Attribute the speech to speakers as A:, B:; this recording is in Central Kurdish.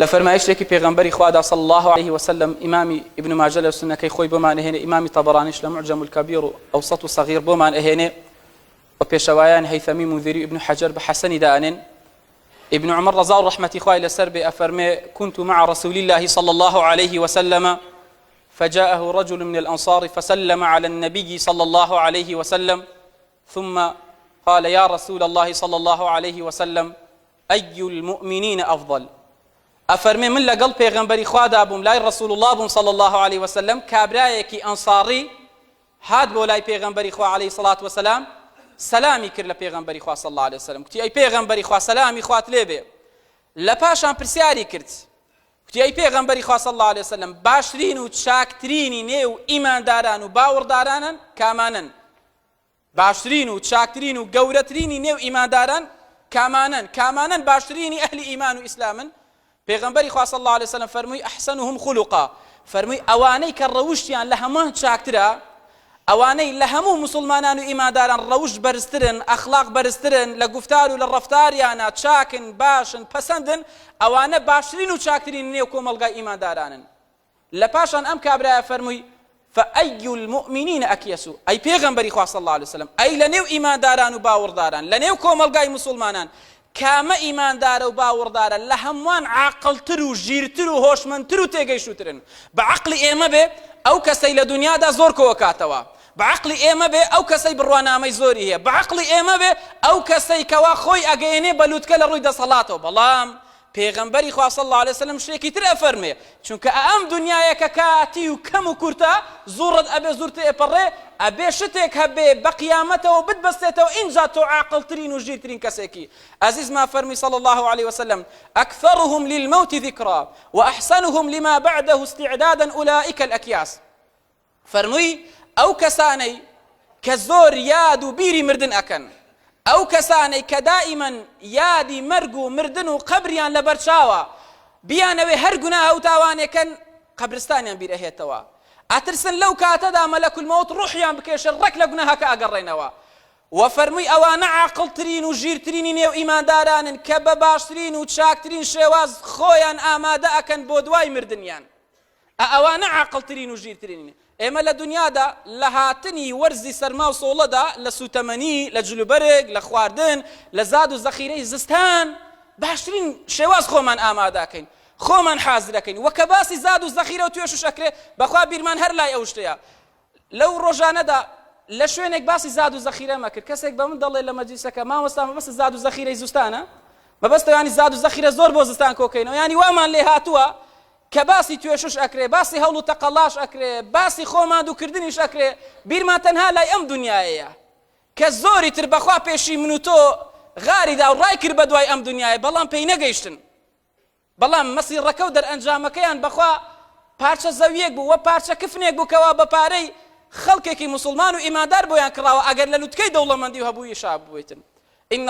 A: لە فەرمایشتێکی پێغەمبەری خوادا صلی اللە علیه وسلم، ئیمامی ابن ماجە لە سوننەکەی خۆی بۆمان ئەهێنێ، ئیمامی طبرانیش لە معجم الکبیر و اوسط و صغیر بۆمان ئەهێنێ، و پێشەوایان هیثمی منذری و ابن حجر بە حەسەنی دائەنێن، ابن عمر رضا و رحمەتی خوای لەسەر بێ ئەفەرمێ، کنت مع رسول اللە صلی اللە علیه وسلم فجاءه رجل من الانصار فسلم علی النبی صلی اللە علیه وسلم ثم قال یا رسول اللە صلی اللە علیه وسلم ای المومنین افضل، ئەفەرمێ من لەگەڵ پێغەمبەری خوادا بووم لای رسول اللە بووم صلی اللە علیە وسلم کابرایەکی ئەنصاری هات بۆ لای پێغەمبەری خوا علیە الصڵاة والسلام سەلامی کرد لە پێغەمبەری خوا صلی اللە علیە وسلم کوتی ئەی پێغەمبەری خوا سەلامی خوات لێ بێ لە پاشان پرسیاری کرد کوتی ئەی پێغەمبەری خوا صلی اللە علیە وسلم باشترین و چاکترینی نێو ئیمانداران و باوەڕدارانن کامانن باشترین و چاکترین و گەورەترینی نێو ئیمانداران کامانەن؟ کامانەن باشترینی ئەهلی ئیمان و ئیسلامن؟ پێغەمبەری خوا صلی الله علیه وسلم فەرمووی احسنهم خلقا فەرمووی ئەوانەی کە ڕەوشتیان لە هەمووان چاکترە ئەوانەی لە هەموو مسلمانان و ئیماداران ڕەوشت بەرزترن ئەخلاق بەرزترن لە گفتار و لە ڕەفتاریانە چاکن باشن پەسەندن ئەوانە باشترین و چاکترین نێو کۆمەڵگای ئیماندارانن لە پاشان ئەم کابرایە فەرمووی فأی المؤمنین اکیسو ئەی پێغەمبەری خوا صلی الله علیه وسلم ئەی لە نێو ئیمانداران و باوەڕداران لە نێو کۆمەڵگای مسلمانان کامە ئیماندارە و باوەڕدارە لە هەمووان عاقڵتر و ژیرتر و هۆشمەندتر و تێگەیشتوترن بە عەقڵی ئێمە بێ ئەو کەسەی لە دنیادا زۆر کۆکاتەوە بە عەقڵی ئێمە بێ ئەو کەسەی بڕوانامەی زۆری هەیە بە عەقڵی ئێمە بێ ئەو کەسەی کەوا خۆی ئەگەیەنێ بە لوتکە لە ڕووی دەسەڵاتەوە بەڵام پێغەمبەری خوا صلی اللە علیە وسلم شتێکی تر ئەفەرمێ، چونکە ئە ئەم دنیایە کە کاتی و کەم و کورتە، زوڕت ئەبێ زوور تێئەپەڕێ، ئەبێ شتێک هەبێ بە قیامەتەوە بتبەستێتەوە ئینجا تۆ عاقڵترین و ژیرترین کەسێکی، ئەزیزمان فەرمی صلی اللە علیە وسلم، اکثرهم للموت ذکری، واحسنهم لما بعده استعدادا اولئک الاکیاس. فەرمووی، ئەو کەسانەی کە زۆر یاد و بیری مردن ئەکەن، ئەو کەسانەی کە دائیمەن یادی مەرگ و مردن و قەبریان لە بەرچاوە، بیانەوێ هەر گوناهە و تاوانێک کەن، قەبرستانیان بیر ئەهێتەوە، ئەترسن لەو کاتەدا مەلەک الموت ڕوحیان بکێشێ ڕێک لە گوناهەکە ئەگەڕێنەوە. وە فەرمووی، ئەوانە عاقڵترین و ژیرترینی نێو ئیماندارانن کە بە باشترین و چاکترین شێواز خۆیان ئامادە ئەکەن بۆ دوای مردنیان. ئە ئەوانە عاقڵ ترین و ژیر ترینن ئێمە لە دنیادا لە هاتنی وەرزی سەرما و سۆڵەدا لە سوتەمەنی لە جلوبەرگ لە خواردن لە زاد و زەخیرەی زستان باشترین شێواز خۆمان ئامادەکەین خۆمان حازرەکەین وە کە باسی زاد و زەخیرە و توێشش ئەکرێ بەخوا بیرمان هەر لای ئەو شتەیە لەو ڕۆژانەدا لە شوێنێک باسی زاد و زەخیرە مەکرد کەسێک بە من دەڵێ لە مەجلیسەکە مامۆستا مەبەست زاد و زەخیرەی زستانە مەبەستەوە ینی زاد و زەخیرە زۆر بۆ زستان کۆکەینەوە ینی وامان لێ هاتووە کە باسی توێشش ئەکرێ باسی هەوڵ و تەقەڵاش ئەکرێ باسی خۆماندووکردنیش ئەکرێ بیرمان تەنها لای ئەم دنیایەیە کە زۆری تر بەخوا پێشی من و تۆ غاری دا و ڕای کرد بە دوای ئەم دنیای بەڵام پێی نەگەیشتن بەڵام مەسیڕەکە و دەرئەنجامەکەیان بەخوا پارچە زەویەک بوو و پارچە کفنێک بوو کەوا بە پارەی خەڵکێکی موسڵمان و ئیماندار بۆیان کڕاوە ئەگەر لە لوتکەی دەوڵەمەندی و هەبووی شا ببویتن ان